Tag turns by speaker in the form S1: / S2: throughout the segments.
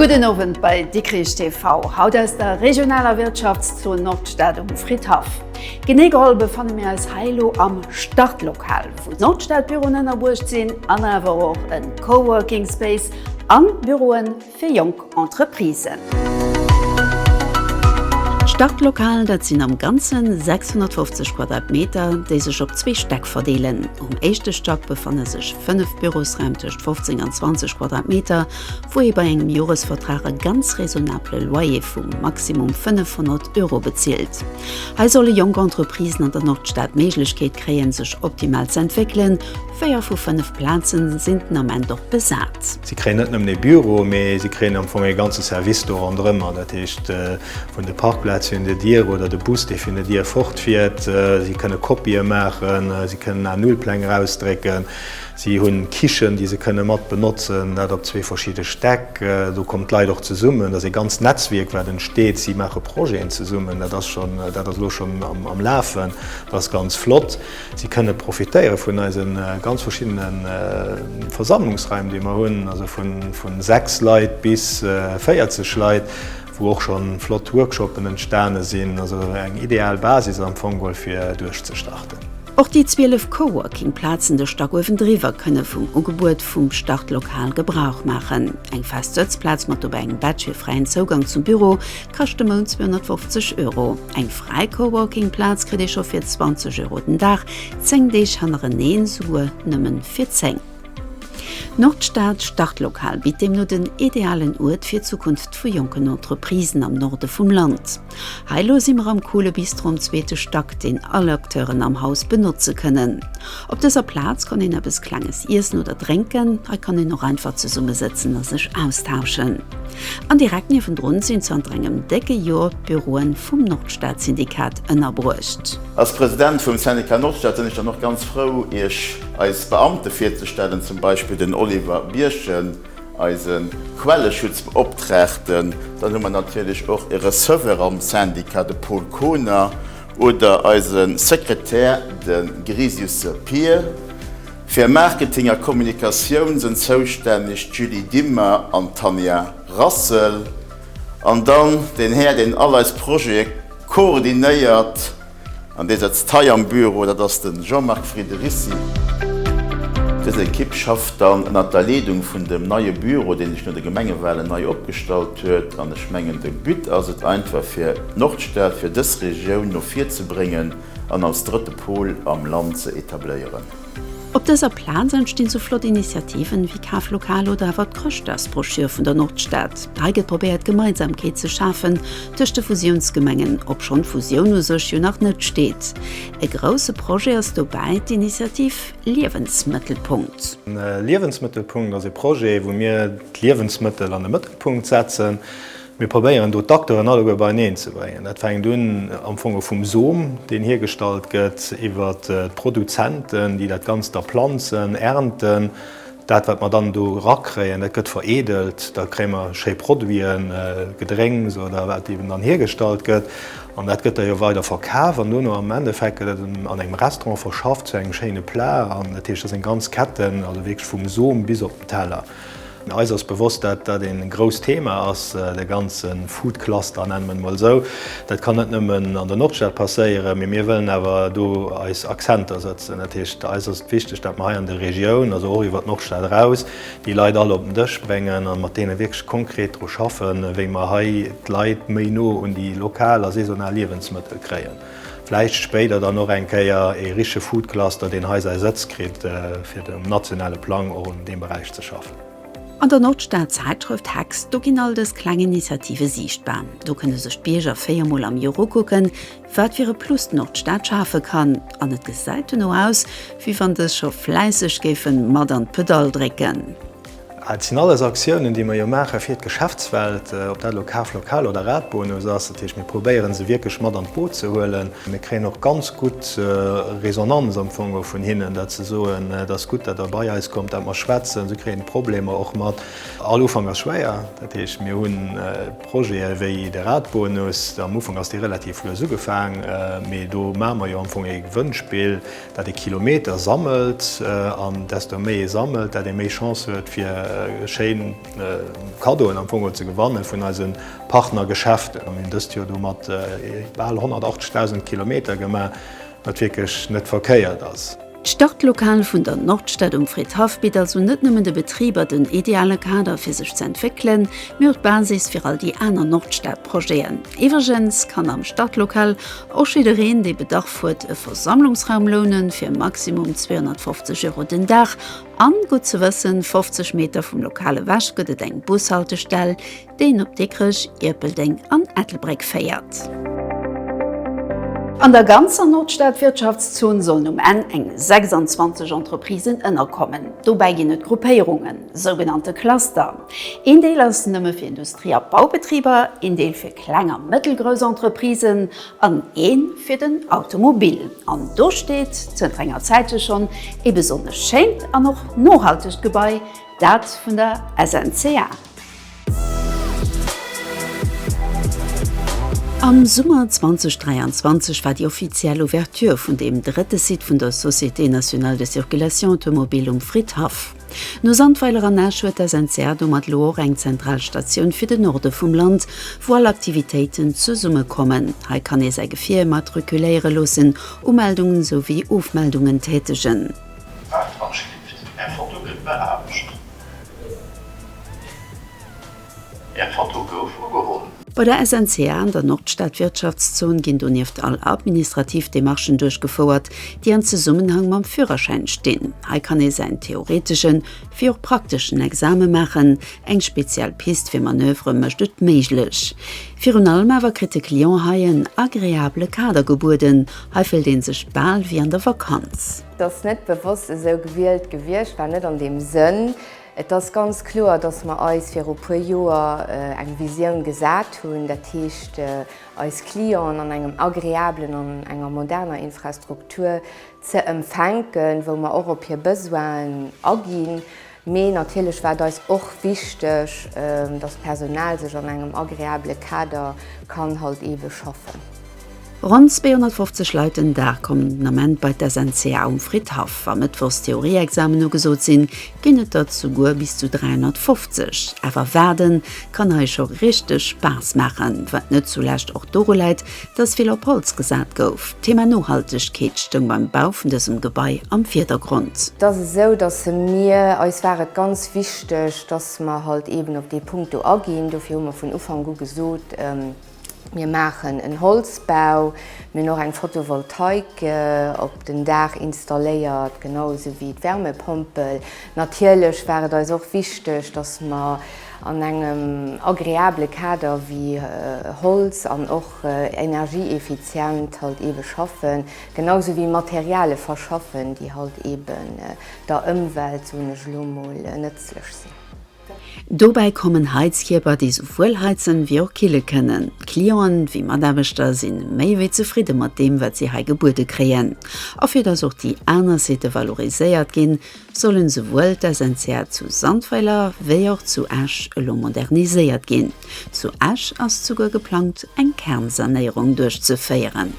S1: Gudden Owend bei Dikrich TV, haut aus der regionaler Wirtschaftszon Nordstad um Fridhaff. Genee geholl befanne mir eis hei elo am Startlokal, wou d'Nordstadbüroen ënnerbruecht sinn an awer och e Coworking Space, A Büroe fir jonk Entreprisen. D'Startlokalen, dat sinn am Ganze 650 Quadratmeter, déi sech op zwee Stäck verdeelen. Um éischte Stack befanne sech fënnef Bürosraim tëscht 15 an 20 Quadratmeter, wou ee bei engem Joresvertrag e ganz raisonnabele Loyer vu maximum 500 Euro bezilt. Hei solle jonk Entreprisen an der Nordstad d'Méiglechkeet kréien, sech optimal z'entwéckelen. Véier vu fënnef Plazen sinn den Ament och besat. Si kréien net nëmmen ee Büro, mee si kréien am Fong ee ganze Service do ronderëmmer. Dat heescht, vun de Parkplaze hir un der Dier oder de Bus, dee vun der Dier fortfiert. Si kënne Kopië maachen, si kënnen A-Null-Pläng erausdrécken, si hunn d'Kichen, déi se kënne mat benotzen, dat op zwee verschidde Stäck. Do kommen d'Leit och zesummen, dat ass ee ganzt Netzwierk, wat entsteet. Si maache Projeten zesummen, dat ass elo schonn am Lafen, dat ass ganz flott. Si kënne profitéiere vun eise ganz verschiddene Versammlungsraim, déi mer hunn, also vu 6 Leit bis 40 Leit, wou och scho flott Workshoppen entstane sinn. Also eng ideal Basis am Fong wuel, fir duerchzestarten. Och déi 12 Coworking-Plazen de Stack uewendriwwer kënne vum Ugebuet vum Startlokal Gebrauch maachen. Eng fest Sëtzplaz mat dobäi engem Badge fir fräien Zougang zum Büro, kascht de Mount 250 Euro. Eng fräi Coworking-Plaz kritt ee scho fir 20 Euro den Dag, 10 Deeg hannereneen souguer nëmmen fir 10. Nordstad Startlokal bitt deemno den idealen Uert fir d'Zukunft vu jonken Entreprisen am Norde vum Land. Hei elo si mer am coole Bistro am zweete Stack, deen all Acteuren am Haus benotze kënnen. Op dëser Plaz kann een eppes Klenges iessen oder drénken. Hei kann een och einfach zesumme sëtzen a sech austauschen. An direkt niewendrun sinn zanter engem décke Jor d'Büroe vum Nordstad-Syndikat ënnerbruecht. Als President vum Syndicat Nordstad sinn ech dann och ganz frou iech eis Beamte virzestellen, zum Beispill den Oliver Birchen, eise Quelleschutzbeoptraagten. Dann hu mer natierlech och e Receveur am Syndicat, de Paul Kohner, Oder eise Sekretär, de Grisiusse Pir. Fir Marketing a Kommunikatioun sënn zoustänneg d'Julie Dimmer an d'Tanja Rassel. An dann den Här, deen all eis Projete koordinéiert an dee sëtzt hei am Büro, dat ass de Jean-Marc Friederissi. Dës Ekipp schafft dann ënnert der Leedung vun dem neie Büro, dee sech no de Gemengewalen nei opgestallt huet. An ech mengen, de But ass et einfach, fir Nordstad fir dës Regioun no vir ze bréngen an als drëtte Pol am Land ze etabléieren. Op dëser Plaz entstinn sou flott Initiativen wéi Kaflokaler oder awer d'Chrëschtdagsbroschür vun der Nordstad. Hei gëtt probéiert Gemeinsamkeet ze schafen tëscht de Fusiounsgemengen, obschonn d'Fusioun u sech jo nach net steet. E grousse Projet ass dobäi d'Initiativ Liewensmëttelpunkt. Liewensmëttelpunkt ass e Projet wou mir d'Liewensmëttel an de Mëttelpunkt setzen. Mir probéieren do d'Acteuren alleguer beieneen ze bréngen. Dat fänkt un am Fong vum Som, deen hiergestallt gëtt, iwwer d'Produzenten, déi dat Ganzt da planzen, ernten, dat, wat mer dann do erakréien, dat gëtt vereedelt, da kréie mer schéi Produiten, Gedrénks oder wat eeben dann hiergestallt gëtt. An dat gëtt da jo weider verkaf an duerno am Endeffekt gëtt dat an engem Restaurant verschafft zu engem schéine Plat. An dat heescht, dat sinn ganz Ketten, also wierklech vum Som bis op den Teller. Eis ass bewosst, dat dat e grousst Thema ass, de ganze Food Cluster, nenne mer en emol esou. Dat kann net nëmmen an der Nordstad passéieren, mee mir wëllen awer do eis Akzenter sëtzen. Dat heescht, eis ass et wichteg, dat mer hei an der Regioun, also och iwwer d'Nordstad eraus, déi Leit all op den Dësch bréngen a mat deene wierklech konkret dru schaffen, wéi mer hei d'Leit méi no un déi lokal a saisonal Liewensmëttel kréien. Vläicht spéider dann och eng Kéier ee richtege Foodcluster, deen hei säi Sëtz kritt, fir um nationale Plang och un deem Beräich ze schaffen. An der Nordstad-Zäitschrëft hex, do ginn all dës kleng Initiative siichtbar. Do kënne sech d'Bierger véier Mol am Joer ukucken, wat fir e Plus d'Nordstad schafe kann. An et gesäit dono aus, wéi wann dës scho fläisseg géife mat an d'Pedall drécken. Et sinn alles Aktiounen, déi mer jo maache fir d'Geschäftswelt, ob dat elo Kaflokal oder Radbonus ass. Dat heescht, mir probéiere se wierklech mat an d'Boot ze huelen. Mir kréien och ganz gutt Resonanz am Fong och vun hinnen, datt se soen, et ass gutt, datt Der bei eis kommt, datt mer schwätzen. Si kréien d'Problemer och mat. All Ufank ass schwéier. Dat heescht, mir hu Projete wéi de Radbonus. Am Ufank ass dee relativ lues ugefaang, mee do maache mer jo am Fong ee Gewënnspill. dat ee Kilometer sammelt an desto méi ee sammelt, dat ee méi Chance huet fir schéin Kaddoen am Fong geholl ze gewanne vun eise Partnergeschäften. Mir hunn dëst Joer domat bal 180.000 Kilometer gemaach, wat wierklech net verkéiert ass. D'Startlokal vun der Nordstad um Fridhaff bitt also net nëmmen de Betriber den ideale Kader fir sech ze entwéckelen, mee och d'Basis fir all déi aner Nordstad-Projeten. Iwwregens kann am Startlokal Och jiddereen, dee Bedarf huet, e Versammlungsraum lounen, fir maximum 250 Euro den Dag. An, gutt ze wëssen, 50 Meter vum Lokal ewech gëtt et eng Bushaltestell, déi een op Dikrech, Ierpeldeng an Ettelbréck féiert. An der ganzer Nordstad-Wirtschaftszon sollen um Enn eng 26 Entreprisen ënnerkommen. Dobäi ginn et Gruppéierungen, sougenannte Cluster. Een Deel ass nëmme fir Industrie a Baubetriber, een Deel fir kleng a mëttelgrouss Entreprisen an een fir den Automobil. An do steet zënter enger Zäit jo schonn ee besonnesch schéint an och nohaltegt Gebai, dat vun der SNCA. Am Summer 2023 war déi offiziell Ouverture vun deem drëtte Site vun der Société Nationale de Circulation Automobile um Fridhaff. No Sandweiler an Esch huet d'SNCA domat elo och eng zentral Statioun fir de Norde vum Land, wou all Aktivitéiten zesummekommen. Hei kann ee säi Gefier immatrikuléiere loossen, Umeldungen souwéi Ofmeldungen tätegen. D'Wahlvorschrift, Är Foto gëtt beaarbecht. Är Foto gouf ugeholl. Bei der SNCA an der Nordstad-Wirtschaftszon ginn donieft all administrativ Demarchen duerchgefouert, déi an Zesummenhang mam Fürerschäin stinn. Hei kann ee säin theoreteschen wéi och prakteschen Exame maachen. Eng speziell Pist fir Manövere mécht et méiglech. Virun allem awer kritt de Client hei en agreabele Kader gebueden, hei fëllt ee sech bal wéi an der Vakanz. Dass net bewosst esou gewielt gewiescht war, net an deem Sënn. Et ass ganz kloer, dass mer eis viru puer Joer eng Visioun gesat hunn, dat heescht eis Clienten an engem agreablen an enger moderner Infrastruktur ze empfänken, wou mer och op hir Besoinen aginn. Mee natierlech war et eis och wichteg, dass d'Personal sech an engem agreabele Kader kann halt ewe schaffen. Ronn 250 Leit den Dag kommen den Ament bei d'SNCA um Fridhaff. Wa mëttwochs d'Theorieexamen ugesot sinn, ginn et der souguer bis zu 350. Awer waarden kann hei scho richteg Spaass maachen, wat net zulescht och doru läit, datt vill op Holz gesat gouf. D'Thema Nohaltegkeet stoung beim Bau vun dësem Gebai am Virdergrond. Et ass esou, datt mir, eis war et ganz wichteg, datt mer halt eeben op dee Punkt do aginn. Dofir hu mer vun Ufank u gesot, Mir maachen en Holzbau. Mir hunn och eng Photovoltaik op den Daach installéiert, genau esou wéi d'Wärmepompel. Natierlech war et eis och wichteg, dass mer an engem agreabele Kader wéi Holz an och energieeffizient halt ebe schaffen, genau esou wéi Materiale verschaffen, déi halt eben der Ëmwelt, soen ech elo mol, nëtzlech sinn. Dobäi kommen Heizkierper, déi souwuel heizen, wéi och kille kënnen. D'Clienten, wéi Mataarbechter, si méi wéi zefridde mat deem, wat si hei gebuede kréien. A fir datt och déi aner Sitë valoriséiert ginn, sollen souwuel d'SNCA zu Sandweiler, wéi och zu Esch elo moderniséiert ginn. Zu Esch ass souguer geplangt eng Kernsanéierung duerchzeféieren.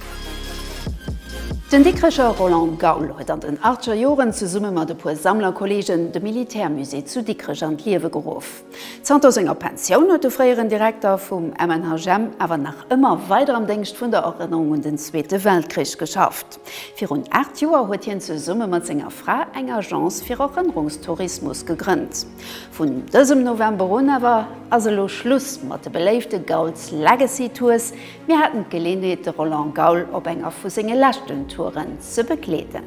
S1: Den Dikrecher Roland Gaul huet an den achtger Joren zesumme mat e puer Sammlerkolleegen de Militärmusée zu Dikrech an d'Liewe geruff. Zanter senger Pensioun huet de fréieren Direkter vum MNHGM awer nach ëmmer weider am Déngscht vun der Erënnerung un den Zweete Weltkrich geschafft. Virun aacht Joer huet hien zesumme mat senger Fra eng Agence fir Erënnerungstourismus gegrënnt. Vun dësem November un awer ass elo Schluss mat de beléifte Gaul's Legacy Tours. Mir haten d'Geleenheet de Roland Gaul op enger vu senge leschten Touren ze begleeden.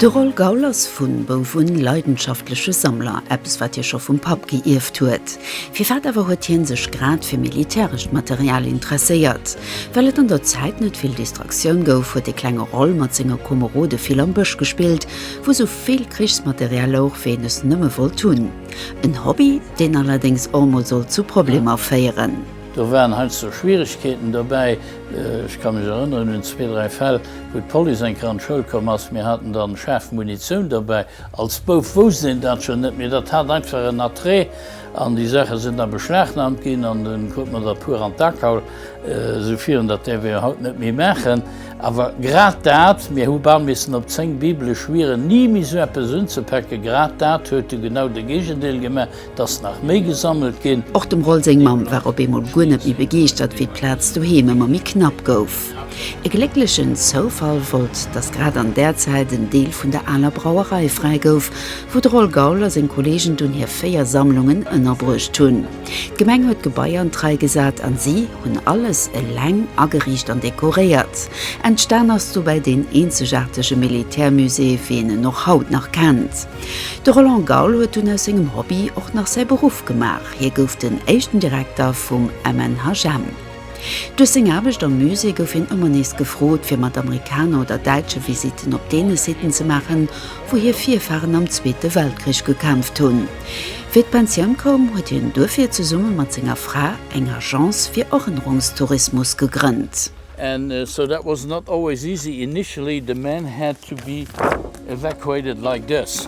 S1: De Roll Gaul ass vun Bouf un leidenschaftleche Sammler, eppes wat hie scho vum Papp geierft huet. Firwat awer huet hien sech grad fir militärescht Material interesséiert? Well et an der Zäit net vill Distraktioun gouf, huet de klenge Roll mat senge Komerode vill am Bësch gespillt, wou sou vill Krichsmaterial louch wéi een es nëmme wollt hunn. En Hobby, deen allerdéngs och mol sollt zu Problemer féieren. Do waren heiansdo Schwieregkeeten dobäi. Ech ka mech erënneren un zwee, dräi Fäll, wou d'Police eng Kéier an d'Schoul komm ass. Mir haten da schaarf Munitioun dobäi. Als Bouf wousst een dat schonn net, mee dat hat einfach en Attrait. An déi Saache sinn da beschlagnahmt ginn an dunn krut mer dat puer an d'A kaul, esou virun. Dat däerf ee jo haut net méi maachen. Awer grad dat, mir hu bal missen op zéng bibelesch Wieren ni méi esou eppes unzepäcken, grad dat huet du genau de Géigendeel gemaach, dass nach méi gesammelt ginn. Och dem Roll seng Mamm war op eemol guer net méi begeeschtert, wéi d'Plaz doheem ëmmer méi knapp gouf. E glécklechen Zoufall wollt, dass grad an där Zäit en Deel vun der aler Brauerei fräi gouf, wou de Roll Gaul a seng Kolleegen dunn hir véier Sammlungen ënnerbruecht hunn. D'Gemeng huet d'Gebai an d'Rei gesat an si hunn alles eleng ageriicht an dekoréiert. Entstan ass dobäi deen eenzegaartege Militärmusée, wéi een en och haut nach kennt. De Roland Gaul huet dunn aus sengem Hobby och nach säi Beruff gemaach, hie gouf den éischten Direkter vum MNHM. Duerch seng Aarbecht am Musée gouf hien ëmmer nees gefrot, fir mat Amerikaner oder Däitsche Visitten op deene Sitten ze maachen, wou hir Virfaren am Zweete Weltkrich gekämpft hunn. Wéi d'Pensioun koum, huet hien duerfir zesumme mat senger Fra eng Agence fir Erënnerungstourismus gegrënnt. And so that was not always easy, initially the men had to be evacuated like this.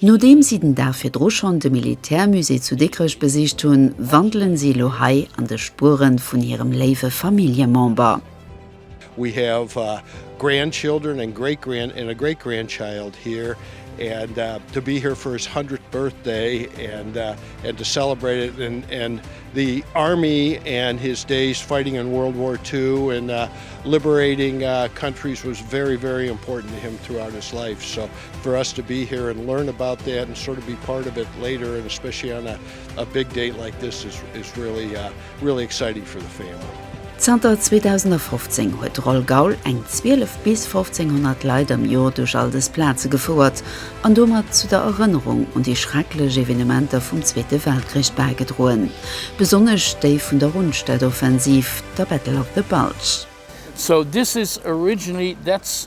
S1: Nodeem si den Dag virdru schonn de Militärmusée zu Dikrech besicht hunn, wandelen si elo hei an de Spuere vun hirem léiwe Familljemember. We have grandchildren and great grand and a great grandchild here and to be here for his hundredth birthday and and to celebrate it and and the army and his days fighting in world war two and liberating countries was very very important to him throughout his life so For us to be here and learn about that and sort of be part of it later and especially on a a big date like this is is really uh really exciting for the family. Zanter 2015 huet Roll Gaul eng 12 bis 1500 Leit am Jor duerch all dës Plaze gefouert an domat zu der Erënnerung un déi schrecklech Evenementer vum Zweete Weltkrich bäigedroen, besonnesch déi vun der Rundstedt-Offensiv, der Battle of the Bulge. So this is originally that's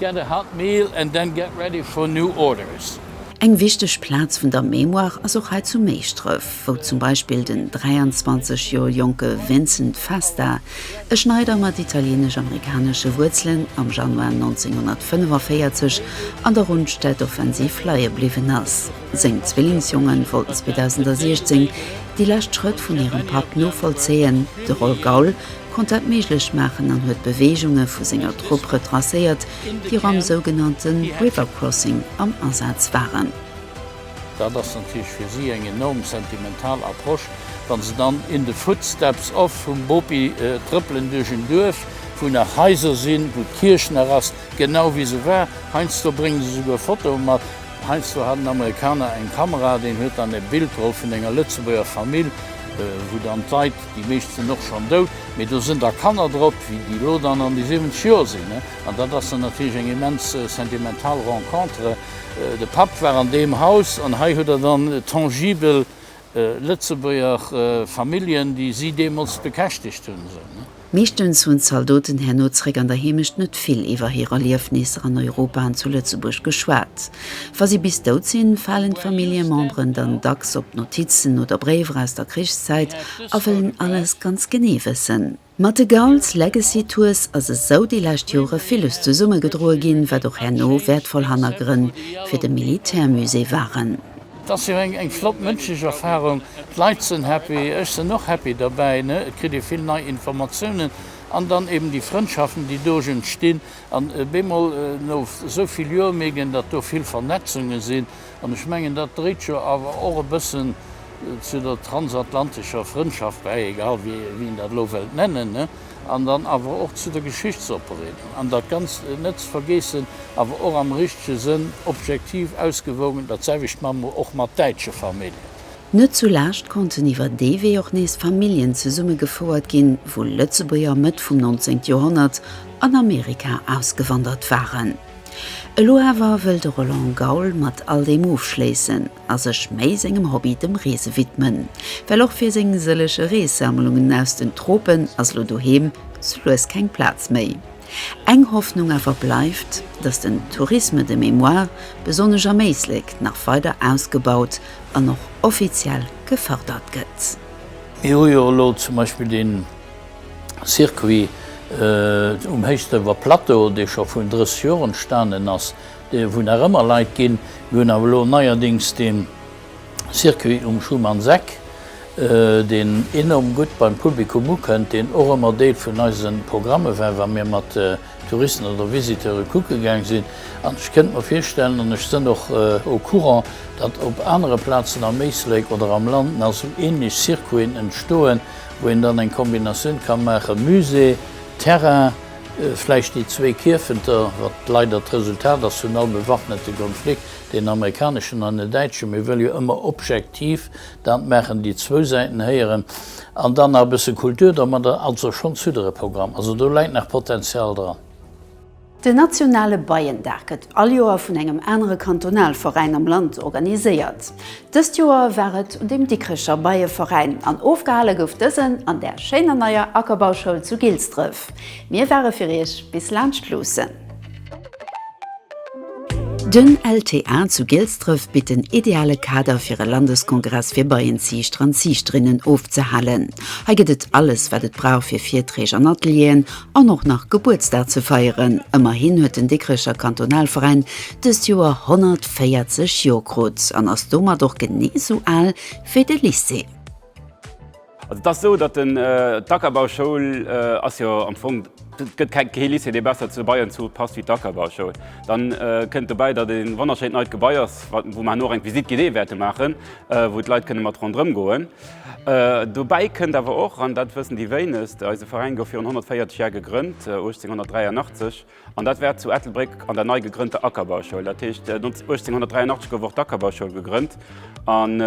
S1: Get a hot meal and then get ready for new orders. Eng wichteg Plaz vun der Mémoire ass och hei zu Méischdrëf, wou zum Beispill den 23 Joer jonke Vincent Festa, e Schneider mat italieenesch-amerikanesche Wuerzelen, am Januar 1945 an der Rundstedtoffensiv leie bliwwen ass. Seng Zwillingsjongen wollten 2016 déi lescht Schrëtt vun hirem Papp novollzéien, de Roll Gaul, konnt dat méiglech maachen an huet d'Beweegunge vu senger Trupp retracéiert, déi och am sougenannte River Crossing am Asaz waren. Dat ass natierlech fir si eng enorm sentimental Approche, wa se dann in the footsteps of vum Bopi trëppelen duerch en Duerf, wou nach Haiser sinn, wou d'Kierch nach ass, genau wéi se war. Heiansdo bréngen se souguer Fotoe mat. Heiansdo hat en Amerikaner eng Kamera, deen huet dann e Bild geholl vun enger Lëtzebuerger Famill, wou dann d'Leit Déi meescht sinn och schonn dout, mee do sinn da Kanner drop, wéi déi elo dann an déi 70 Joer sinn. An dat ass dann natierlech eng immens sentimental Rencontre. De Papp war an deem Haus an hei hutt Der dann tangibel Lëtzebuerger Familljen, déi si deemools bekäschtegt hunn. Meeschtens hunn d'Zaldoten herno zeréck an der Heemecht net vill iwwer hir Erliefnisser an Europa an zu Lëtzebuerg geschwat. Wa si bis dout sinn, falen d'Familljememberen dann dacks op d'Notizen oder Bréiwer aus der Krichszäit a wëllen alles ganz genee wëssen. Mat de Gault's Legacy Tours ass esou déi lescht Jore villes zesummegedroe ginn, wat och herno wäertvoll Hannergrënn fir de Militärmusée waren. Et ass jo eng flott mënschlech Erfarung. D'Leit sënn happy, ech sënn och happy derbäi. Et kritt ee vill nei Informatiounen an dann eben déi Frëndschaften, déi doge entstinn. An bemol no esou vill Joer mierkt een, datt do vill Vernetzunge sinn. An ech mengen, dat dréit jo awer och e bëssen zu der transatlantescher Frëndschaft bäi, egal wéi een dat elo wëllt nennen, an dann awer och zu der Geschichtsopbereedung. An dat Ganzt net ze vergeessen, awer och am richtege Sënn objektiv ausgewogen, dat selwecht maache mer och mat däitsche Familljen. Net zu Laascht konnten iwwer dee Wee och nees Familljen zesumme gefouert ginn, wou Lëtzebuerger Mëtt vum 19 Joerhonnert an Amerika ausgewandert waren. Elo awer wëll de Roland Gaul mat all deem ofschléissen a sech méi sengem Hobby, dem Reese widmen, well och fir seng sëllege Reessammlungen aus den Tropen ass elo doheem sou lues keng Plaz méi. Eng Hoffnung awer bleift, datt den Tourisme de mémoire, besonnesch am Éislek, nach weider ausgebaut an och offiziell gefërdert gëtt. Mir hu jo elo zum Beispill dee Circuit um Héichsdrëffer Plateau, dee scho vun 30 Joer entstanen ass, wou nach ëmmer Leit ginn. Mir hunn awer elo neierdings dee. Circuit um Schumannseck, deen enorm gutt beim Publikum ukënnt, deen och ëmmer Deel vun eise Programme war, wa mir mat Touristen oder Visiteure kucke gaang sinn. An ech kënnt mer virstellen, an ech sënn och au courant, datt op anere Plazen am Éislek oder am Land nach esou ähnlech Circuiten entstoen, wou een dann eng Kombinatioun ka maachen, Musée, Terrain, vläicht déi zwee Kierfenter, wat leider d'Resultat ass vun all bewaffnete Konflikt. Deen amerikaneschen an den däitsche, mir wëlle jo ëmmer objektiv dat maachen, déi zwou Säiten héieren an dann nach e bësse Kultur domadder, also schonn zudere Programm. Also do läit nach Potenzial dran. Den nationale Beiendag gëtt all Joer vun engem anere Kantonalveräin am Land organiséiert. Dëst Joer war et un dem Dikrecher Beieveräin an ofgehale gouf dësen an der schéiner neier Ackerbauschoul zu Gilsdref. Mir ware fir Iech bis laanscht luussen. Den LTA zu Gilsdref bitt den ideale Kader fir e Landeskongress fir Beienziichter an Ziichterinnen ofzehalen. Hei gëtt et alles wat et brauch fir Virträg an Atelieren an och nach Gebuertsdag ze feieren. Ëmmerhin huet den Dikrecher Kantonalveräin dëst Joer 140 Joer krut an ass domat och genee sou al wéi de Lycée. Also et ass esou, datt den, d'Ackerbauschoul ass jo am Fong, et gëtt keng, kee Lycée dee besser zu Beieren zu passt wéi d'Ackerbauschoul. Dann kënnt dobäi, datt et en wonnerschéint neit Gebai ass, wat, wou mer herno och eng Visite guidée wäerte maachen, wou d'Leit kënne mat ronderëm goen. Dobäi kënnt awer och, an dat wëssen déi wéinegst, eise Veräin gouf virun 140 Jahre gegrënnt, 1883, An dat war zu Ettelbréck an der nei gegrënnter Ackerbauschoul. Dat heescht, 1883 gouf och d'Ackerbauschoul gegrënnt. An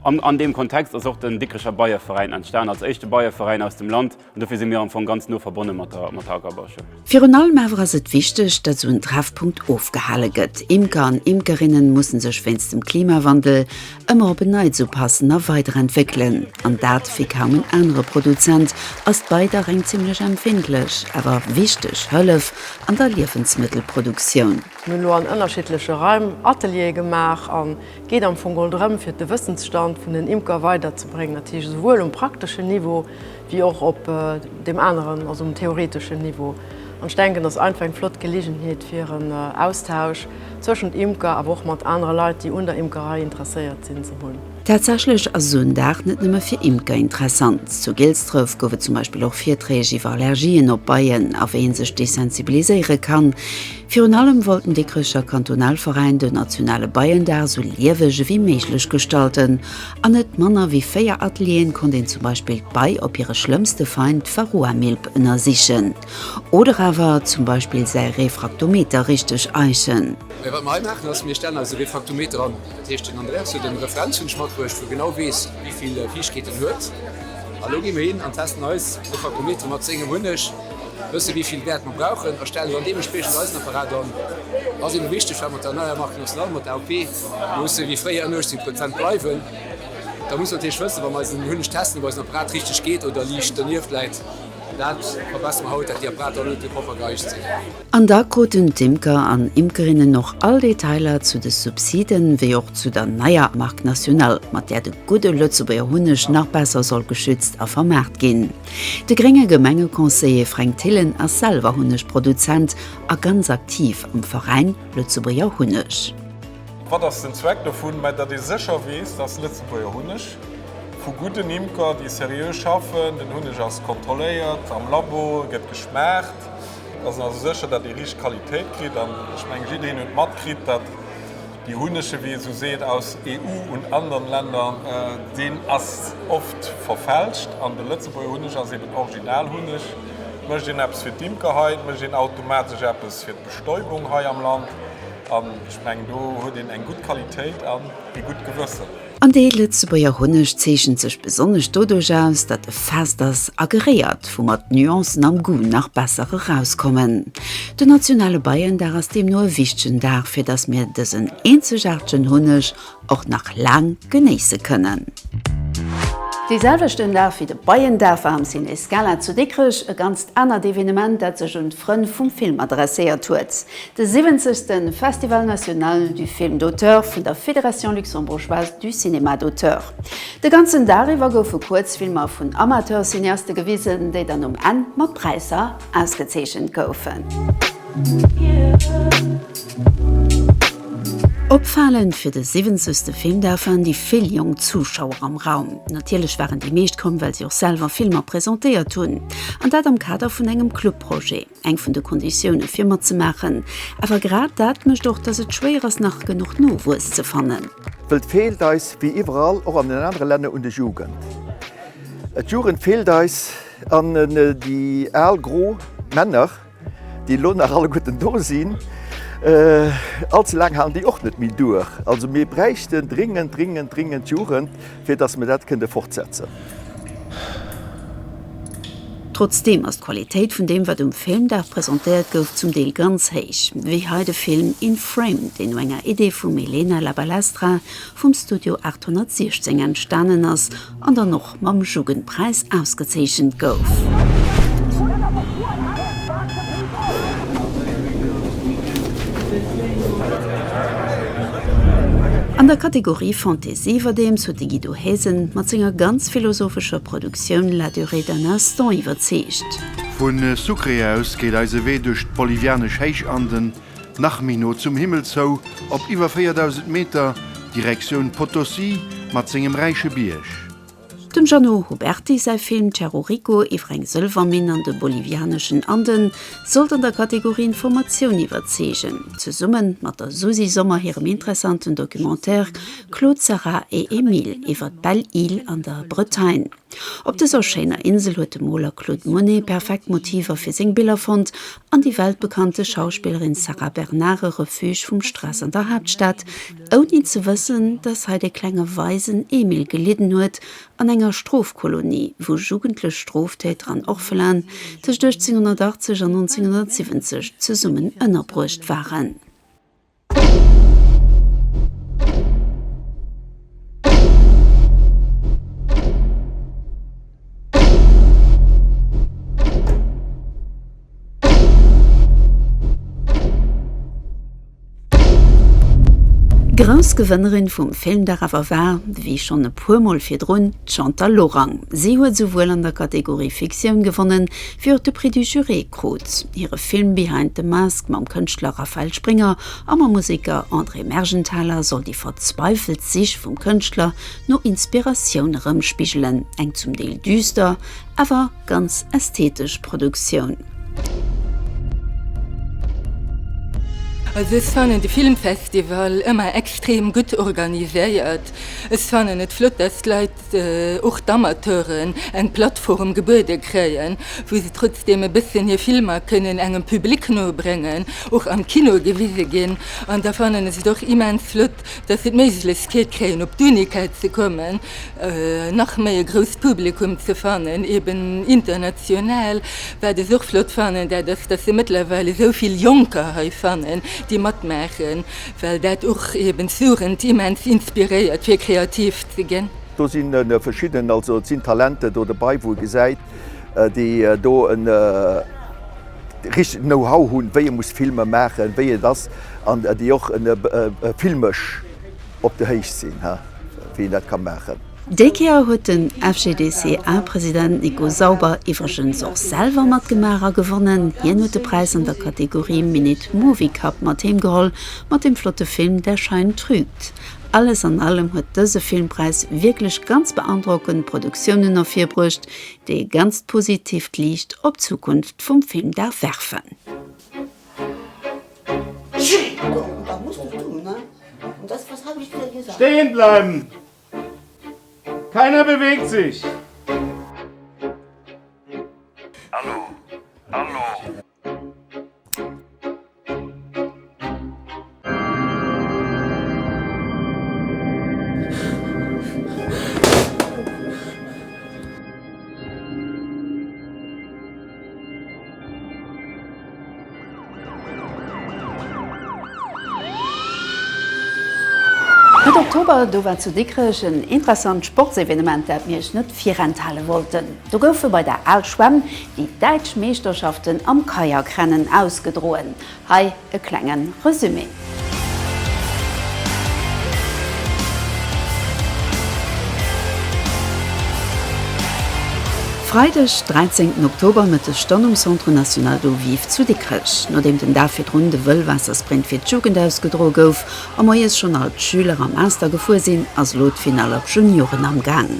S1: an deem Kontext ass och den Dikricher Beieveräin entstan, als éischte Beieveräin aus dem Land. An dofir si mir am Fong ganz no verbonne mat der Ackerbauschoul. Virun allem awer ass et wichteg, datt esou en Treffpunkt ofgehale gëtt. Imker an Imkerinnen musse sech wéinst dem Klimawandel Ëmmer op en Neits upassen a weiderentwéckelen, an dat wéi kaum en anere Produzent, ass d'Beidach eng zimmlech empfindlech, awer wichteg Hëllef an der Liewensmëttelproduktioun. Mir hunn elo an ënnerschiddleche Raim Ateliere gemaach an et geet am Fong geholl drëm, fir de Wëssensstand vun den Imker weiderzebréngen, dat heescht esouwuel um prakteschen Niveau, wéi och op deem aneren, also um theoreteschen Niveau. An ech denken, dat ass einfach eng flott Geleegenheet fir en Austausch zwëschent Imker, awer och mat anere Leit, déi un der Imkerei interesséiert sinn, ze hunn. Tatsächlech ass esou en Dag net nëmme fir Imker interessant. Zu Gilsdref gouf et zum Beispill och Virträg iwwer Allergien op Beien a wéi ee sech desensibiliséiere kann, Virun allem wollt den Dikricher Kantonalveräin den nationale Beiendag sou lieweg ewéi méiglech gestalten. An net manner ewéi 4 Atelieren konnt een zum Beispill d'Bei op hire schlëmmste Feind, d'Varroamilb, ënnersichen. Oder awer zum Beispill säi Refraktometer richteg eichen. Mä wat mer hei maachen ass, mir stellen eise Refraktometer an. Dat heescht, den Andreas huet en Referenzhund matbruecht, wou e genau weess, wéi vill Viichkeet en huet. An elo gi mir hin an testen eis Refraktometer mat sengem Hunneg. wësse wéi vill Wäert mer brauchen a stellen dann deementspriechend eisen Apparat an. Ass eebe wichteg, well mat der neier Marque nationale, mat der AOP, musse wéi fréier ënner 18 Prozent bleiwen. Da muss mer natierlech wëssen, wa mer eisen Hunneg testen, ob eisen Apparat richteg geet oder liicht donieft läit. Dat verbessere mer haut, dat déi Apparater net e Poffer geicht sinn. An da kruten d'Imker an Imkerinnen och all Detailer zu de Subsiden, wéi och zu der neier Marque nationale, mat där de gudde Lëtzebuerger Hunneg nach besser soll geschützt a vermaart ginn. De grénge Gemengeconseiller Fränk Thillen ass selwer Hunnegproduzent a ganz aktiv am Veräin Lëtzebuerger Hunneg. Wat ass den Zweck dovun? Mä datt ee sécher weess, datt Lëtzebuerger Hunneg vu gudden Imker, déi seriö schaffen, den Hunneg ass kontrolléiert am Labo, e gëtt geschmaacht, Datt een also sécher, datt ee richteg Qualitéit kritt. An ech mengen, jiddereen huet matkritt, datt dee Hunnege, wéi ee sou seet, aus EU und anderen Länder, deen ass oft verfälscht. An de Lëtzebuerger Hunneg ass eben Originalhunneg. Mécht een eppes fir d'Imker hei, mécht een automatesch eppes fir d'Bestäubung hei am Land. An ech mengen, do huet een eng gutt Qualitéit an ee gutt Gewëssen. An dee Lëtzebuerger Hunneg zeechent sech besonnesch doduerch aus, datt e fest ass a geréiert, woumat d'Nuancen am Goût nach besser erauskommen. Den nationale Beiendag ass deemno e wichtegen Dag, fir datt mir dësen eenzegaartegen Hunneg och nach laang genéisse kënnen. Dee selwechten Dag wéi de Beiendag war am Ciné Scala zu Dikrech e ganzt anert Evenement, dat sech un d'Frënn vum Film adresséiert huet. De 70. Festival National du Film d'Auteur vun der Fédération Luxembourgeoise du Cinéma d'Auteur. De ganzen Dag iwwer goufe Kuerzfilmer vun Amateurcineaste gewisen, déi dann um Enn mat Präisser ausgezeechent goufen. Opfalend fir de 70. Filmdag waren déi vill jonk Zuschauer am Raum. Natierlech waren déi meescht komm, well si och selwer Filmer presentéiert hunn, an dat am Kader vun engem Clubprojet. Eng vun de Konditioune fir matzemaachen. Awer grad dat mécht och, datt et schwéier ass nach genuch Nowuess ze fannen. Wëllt feelt eis wéi iwwerall och an den anere Länner un de Jugend. D'Jugend feelt eis an déi al gro Männer, déi elo nach alleguerten do sinn, allze laang halen déi och net méi duer. Also mir bräichten dringend, dringend, dringend d'Jugend. Fir dass mir dat kënnte fortsetzen. Trotzdeem ass d'Qualitéit vun deem wat um Filmdag presentéiert gouf zum Deel ganz héich, wéi hei de Film In Frame, deen no enger Idee vum Elena La Balestra vum Studio 816 entstanen ass an dann och mam Jugendpräis ausgezeechent gouf. An der Kategorie Fantaisy Iwwerdeems huet de Guido Haesen mat senger ganz philosophescher Produktioun La durée d'un instant iwwerzeegt. Vu Sucre aus geet eise Wee duerch d'bolivianesch Héichanden nach méi no zum Himmel zou, op iwwer 4.000 Meter, Direktioun Potosí mat sengem räiche Bierg. Dem Jeannot Huberty säi Film Terrorico iwwer eng Sëlwerminn an de bolivianeschen Anden sollt an der Kategorie Informatioun iwwerzeegen, zesumme mat der Susi Sommer hirem interessanten Documentaire Claude, Sarah et Emile iwwer d'Belle Isle an der Bretagne. Op dëser schéiner Insel huet de Moler Claude Monet perfekt Motiver fir seng Biller fonnt an déi weltbekannte Schauspillerin Sarah Bernard e Refuge vum Stress an der Haaptstad, ouni ze wëssen, dass hei de klenge Waisen Emil gelidden huet an enger Strofkolonie, wou jugendlech Stroftäter an Orphelan tëscht 1880 an 1970 zesummen ënnerbruecht waren. Grouss Gewënnerin vum Filmdag awer war, wéi schonn e puer Mol virdrun, d'Chantal Lorang. Si huet esouwuel an der Kategorie Fiktioun gewonnen, wéi och de Prix du Jury krut. Hire Film Behind the Mask mam Kënschtler Raphael Springer a mam Museker André Mergenthaler soll déi verzweifelt Sich vum Kënschtler no Inspiratioun erëmspigelen, eng zum Deel düster, awer. Ganz ästhetesch Produktioun. Also ech fannen de Filmfestival ëmmer extrem gutt organiséiert. Ech fannen et flott, datt d'Leit, och d'Amateuren, eng Plattform gebuede kréien, wou se trotzdeem e bëssen hir Filmer kënnen engem Public no bréngen, och am Kino gewise ginn. An da fannen ech et och immens flott, dass si d'Méiglechkeet kréien op d'Unicade ze kommen, nach méi e grousst Publikum ze fannen, eben international. Wat ech och flott fannen, dat ass, dass se mëttlerweil esou vill Jonker hei fannen, déi matmaachen, well dat och eben d'Jugend immens inspiréiert fir kreativ ze ginn. Do si verschidden, also et sinn Talente do dobäi, wou e gesäit, déi do e richtegt Know-how hunn, wéi ee muss Filmer maachen, wéi et ass. An déi och filmesch op der Héicht sinn, wéi een dat ka maachen. Déi Kéier huet den FGDSEA-President Nico Sauber iwwregens och selwer matgemaach a gewonnen. Hien huet de Präis an der Kategorie Minute Movie Cup mat heem geholl, mat dem flotte Film Der Schein trügt. Alles an allem huet dëse Filmpräis wierklech ganz beandrockend Produktiounen ervirbruecht, déi e ganzt positiivt Liicht op d'Zukunft vum Film darf werfen. Stehen bleiben! Keiner bewegt sich! Mëtt Oktober, do war zu Dikrech en interessant Sportsevenement, dat mir iech net virenthale wollten. Do goufe bei der Al Schwämm déi däitsch Meeschterschaften am Kajakrennen ausgedroen. Hei e klenge Resumé. Freideg, 13 Oktober, Mëtteg dann um Centre National d'Eau Vive zu Dikrech. Nodeem den Dag virdrun de Wëllwaassersprint fir d'Jugend ausgedroe gouf a moies schonn all d'Schüler am Master gefuer sinn, ass elo d'Finall op Junioren am Gaang.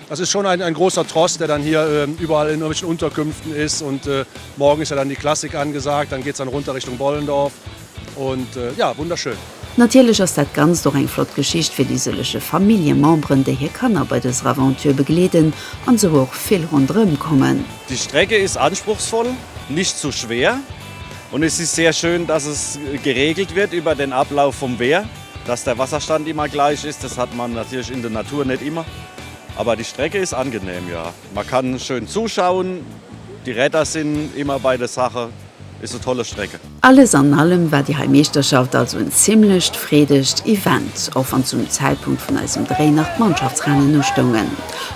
S1: Es ist schon ein ein großer Tross, der dann hier überall in irgendwelchen Unterkünften ist und morgen ist ja dann die Klassik angesagt, dann geht's dann runter Richtung Bollendorf und ja, wunderschön. Natierlech ass dat Ganzt och eng flott Geschicht fir déi sëlleche Familljememberen, déi hir Kanner bei dëser Aventure begleeden an esou och vill ronderëm kommen. Die Strecke ist anspruchsvoll, nicht zu schwer und es ist sehr schön, dass es geregelt wird über den Ablauf vom Wehr. Dass der Wasserstand immer gleich ist, das hat man natürlich in der Natur nicht immer. Aber die Strecke ist angenehm, ja. Man kann schön zuschauen, die Räder sind immer bei der Sache, ist eine tolle Strecke. Alles an allem war déi hei Meeschterschaft also en zimmlecht freedegt Event, och wann zum Zäitpunkt vun eisem Dréi nach d'Mannschaftsrennen ustoungen.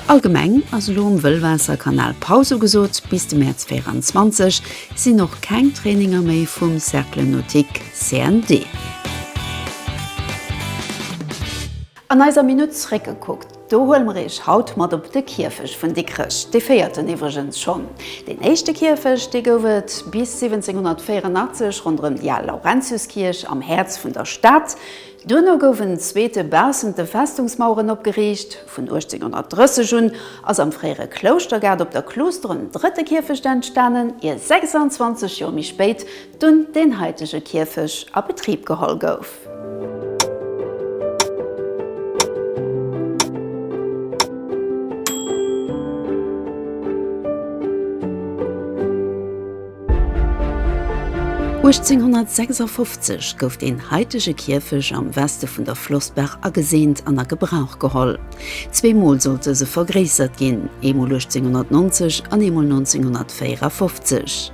S1: Allgemeng ass elo um Wëllwaasserkanal Paus ugesot. Bis de Mäerz 24 sinn och keng Traininger méi vum Cercle Nautique. CND. An eiser Minutt zréckgekuckt, do huele mer Iech haut mat op de Kierfech vun Dikrech, dee véierten iwwregens schonn. Deen éischte Kierfech, dee gouf et bis 1784 ronderëm déi al Laurentiuskierch am Häerz vun der Stad. Duerno gouf en zweete baussent de Festungsmaueren opgeriicht. Vun 1830 un ass am fréiere Klouschtergaart op der Kluuster en drëtte Kierfecht entstanen, ier 26 Joer méi spéit dunn deen haitege Kierfech a Betrib geholl gouf. Uechtzénhunnertsechsundfofzeg gouf deen haitege Kierfech am Weste vun der Flossbaach ageseent an a Gebrauch geholl. Zwee Mol sollt dëse vergréissert ginn, eemol 1890 an eemol 1954.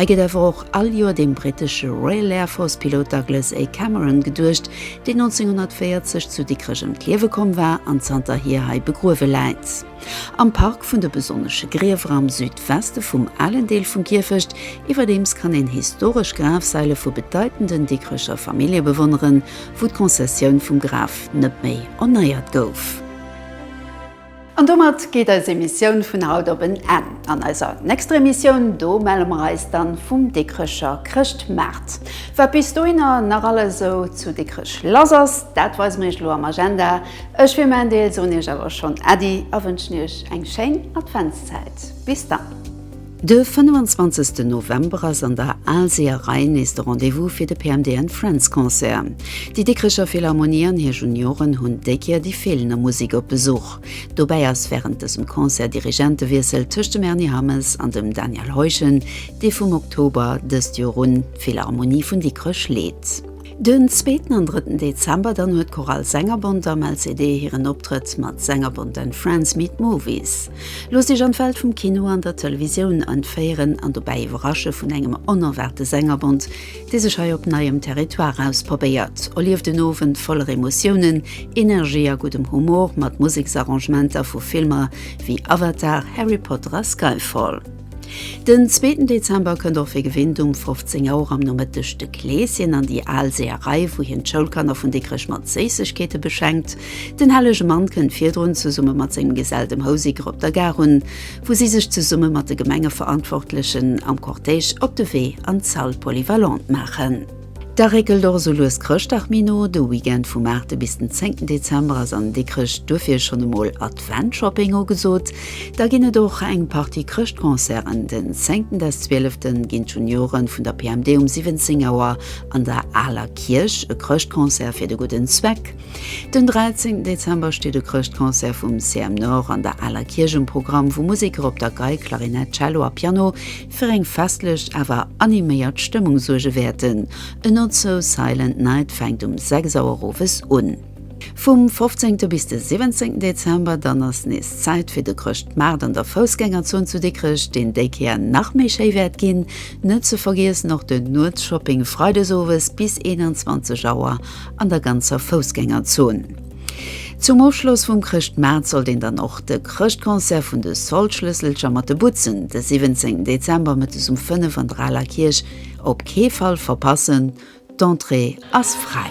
S1: Hei gëtt awer och all Joer dem brittesche Royal Air Force Pilot Douglas A. Cameron geduecht, deen 1940 zu Dikrech ëm d'Liewe komm war an zanterhier hei begruewe läit. Am Park vun de besonnesche Griewer am Südweste vum alen Deel vum Kierfecht iwwerdeems kann een historesch Grafsaile vu bedeitenden Dikrecher Famillje bewonneren, wou d'Konzessioun vum Graf net méi erneiert gouf. An domat geet eis Emissioun vun haut op en Enn. An eiser nächster Emissioun, do melle mer eis dann vum Dikrecher Chrëschtmaart. Wat bis dohinner nach alles esou zu Dikrech lass ass, dat weise mer iech elo am Agenda. Ech fir mäin Deel soen iech awer schonn Äddi a wënschen iech eng schéin Adventszäit. Bis dann. De 25 November ass an der Aalseeërei nees de Rendez-vous fir de PMD and Friends Concert. Déi Dikricher Philharmonie an hir Junioren hunn déi Kéier déi feelender Musik op Besuch. Dobäi ass wärend dësem Concert Dirigentewiessel tëscht dem Erny Hammes an dem Daniel Heuschen, dee vum Oktober dëst Joer un d'Philharmonie vun Dikrech leet. Den zweeten an drëtten Dezember dann huet d'Chorale Sängerbond am LCD hiren Optrëtt mat Sängerbond and Friends meet Movies. Loosst Iech an d'Welt vum Kino an der Televisioun entféieren an dobäi iwwerrasche vun engem onerwaarte Sängerbond, dee sech hei op neiem Territoire ausprobéiert. Erlieft en Owend voller Emotiounen, Energie a guddem Humor mat Museksarrangementer vu Filmer wéi Avatar, Harry Potter a Skyfall. Den zweeten Dezember kënnt och wéi gewinnt um 15 Auer am Nomëtteg de Kleeschen an déi al Seeërei, wou hien d'Schoulkanner vun Dikrech mat Séissegkeete beschenkt. Den hellege Mann kënnt virdrun zesumme mat sengem Gesell dem Houseker op der Gare un, wou si sech zesumme mat de Gemengeverantwortlechen am Cortège op de Wee an d'Salle polyvalente maachen. Da réckelt och esou lues Chrëschtdag méi no. De Weekend vum 8 bis den 10 Dezember ass an Dikrech, duerfir schonn emol Adventshopping ugesot. Da ginn et och eng Partie Chrëschtconcerten. Den 10 des 12 ginn d'Junioren vun der PMD um 17 Auer an der Aler Kierch e Chrëschtconcert fir de gudden Zweck. Den 13 Dezember steet e Chrëschtconcert vum CM Nord an der Aler Kierch um Programm, wou Museker op der Gei, Klarinett, Cello a Piano fir eng festlech awer animéiert Stëmmung suerge wäerten. A Not So Silent Night fänkt um 6 Auer owes un. Vum 15. bis de 17. Dezember dann ass nees Zäit fir de Chrëschtmaart an der Foussgängerzon zu Dikrech, deen déi Kéier nach méi schéi wäert ginn. Net ze vergiessen och den Nuetsshopping freides owes bis 21 Auer an der ganzer Foussgängerzon. Zum Ofschloss vum Chrëschtmaart sollt een dann och de Chrëschtconcert vun de Soldschlësselcher mat de Butzen de 17 Dezember mëttes um 5 an der Aler Kierch op kee Fall verpassen, d'Entrée ass fräi.